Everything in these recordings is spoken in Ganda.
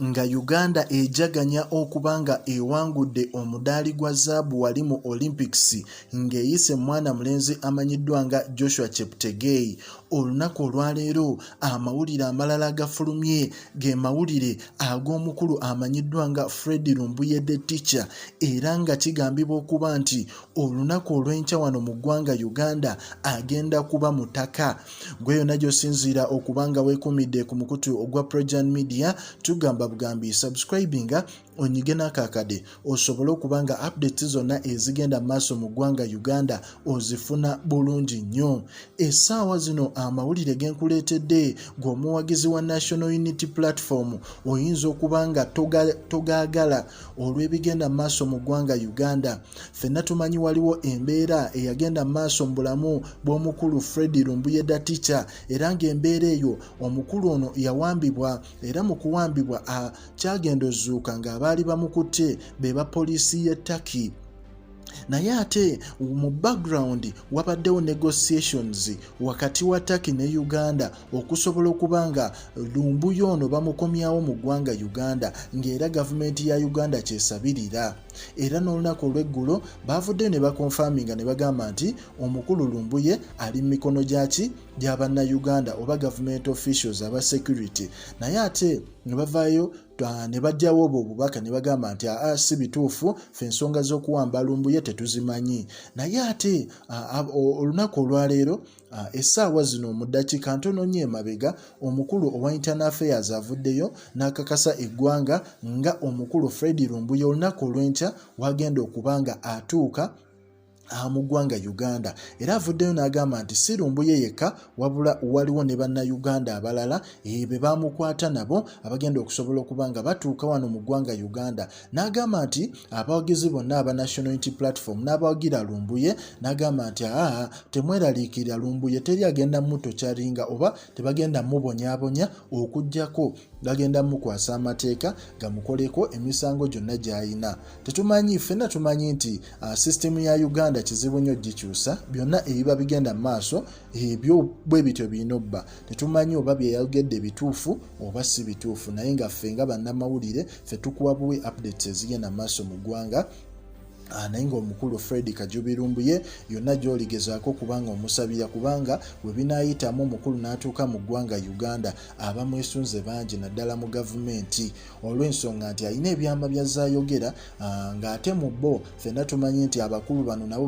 nga Uganda ejaganya okuba nga ewangudde omudaali gwa zaabu wali mu Olympics ng'eyise mwana mulenzi amanyiddwa nga Joshua Cheptegei. Olunaku olwaleero amawulire amalala agafulumye ge mawulire ag'omukulu amanyiddwa nga Fred Lumbuye the Teacher era nga kigambibwa okuba nti olunaku olw'enkya wano mu ggwanga Uganda agenda kuba mutaka. gwe yonna gyosinziira okuba nga wekumidde ku mukutu ogwa projan media tugamba bugambi subscribinga onyige n'akakade osobole okuba nga updates zonna ezigenda mu maaso mu ggwanga uganda ozifuna bulungi nnyo essaawa zino amawulire genkuleetedde gweomuwagizi wa national unity platform oyinza okuba nga togaagala olw'ebigenda mu maaso mu ggwanga Uganda. Ffenna tumanyi waliwo embeera eyagenda mu maaso mu bulamu bw'omukulu Fred Lumbuyeda Ticha era ng'embeera eyo omukulu ono yawambibwa era mu kuwambibwa akyagenda ozuuka ng'abaali bamukutte be ba poliisi y'e Turkey. naye ate mu background wabaddewo negotiations wakati wa Turkey ne Uganda okusobola okuba nga lumbuyo ono bamukomyawo mu ggwanga Uganda ng'era gavumenti ya Uganda kyesabirira era n'olunaku olw'eggulo baavuddeyo ne bakonfaminga ne bagamba nti omukulu lumbuye ali mu mikono gyaki gya bannayuganda oba gavumenti officials aba security naye ate ne bavaayo Ah, ne bajjawo obwo obubaka ne bagamba nti aa ah, ah, si bituufu fe ensonga z'okuwamba lumbuye tetuzimanyi naye ate olunaku olwaleero essaawa zino mu ddakiika ntono nnyo emabega omukulu owa internal affairs avuddeyo n'akakasa eggwanga nga omukulu fred lumbuye olunaku olw'enkya wagenda okuba nga atuuka mu ggwanga Uganda era avuddeyo n'agamba nti si Lumbuye yekka wabula waliwo ne bannayuganda abalala eh, be baamukwata nabo abagenda okusobola okuba nga batuuka wano mu ggwanga Uganda n'agamba nti abawagizi bonna aba National Unity Platform n'abawagira Lumbuye n'agamba nti aa temweraliikirira Lumbuye teri agenda muto kyaringa oba tebagenda mubonyabonya okugyako gagenda mukwasa amateeka gamukoleko emisango gyonna gy'alina tetumanyi ffenna tumanyi nti Ah, sisitemu ya uganda kizibu nnyo gikyusa byonna ebiba bigenda mu maaso ebyo bwe bityo birina obba tetumanyi oba byeyayogedde bituufu oba si bituufu naye nga ffe nga bannamawulire ffe tukuwa buwe updates ezigenda mu maaso mu ggwanga Ah, naye ngaomukulu fred kajubirumbu ye yonna gyoligezaako kubanga omusabira kubanga webinayitamu omukulu n'atuuka mu ggwanga uganda abamwesunze bangi naddala mu gavumenti olw'ensonga nti alina ebyama bya zayogera ah, ng'ate mu bo fenna tumanyi nti abakulu bano nabo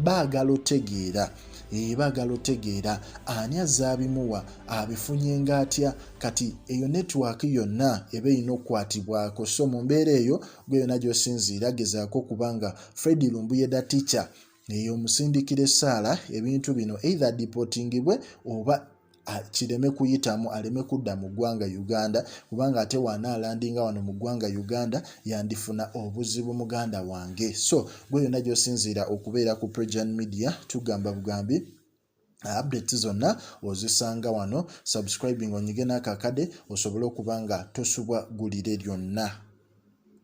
baagala otegeera eh, baagala otegeera ani azaabimuwa abifunye ngaatya kati eyo netiwaaka yonna eba erina okukwatibwako so mu mbeera eyo gwe yonna gy'osinziira gezaako okuba nga fred lumbuyeda ticha eyo omusindikira essaala ebintu bino either dipotingibwe oba kireme kuyitamu aleme kudda mu ggwanga uganda kubanga ate waana alandinga wano mu ggwanga uganda yandifuna obuzibu muganda wange so gwe yonna gyosinziira okubeera ku pregian media tugamba bugambi Uh, updates zonna ozisanga wano subscribing onyige n'akakade osobole okuba nga tosubwa gulire lyonna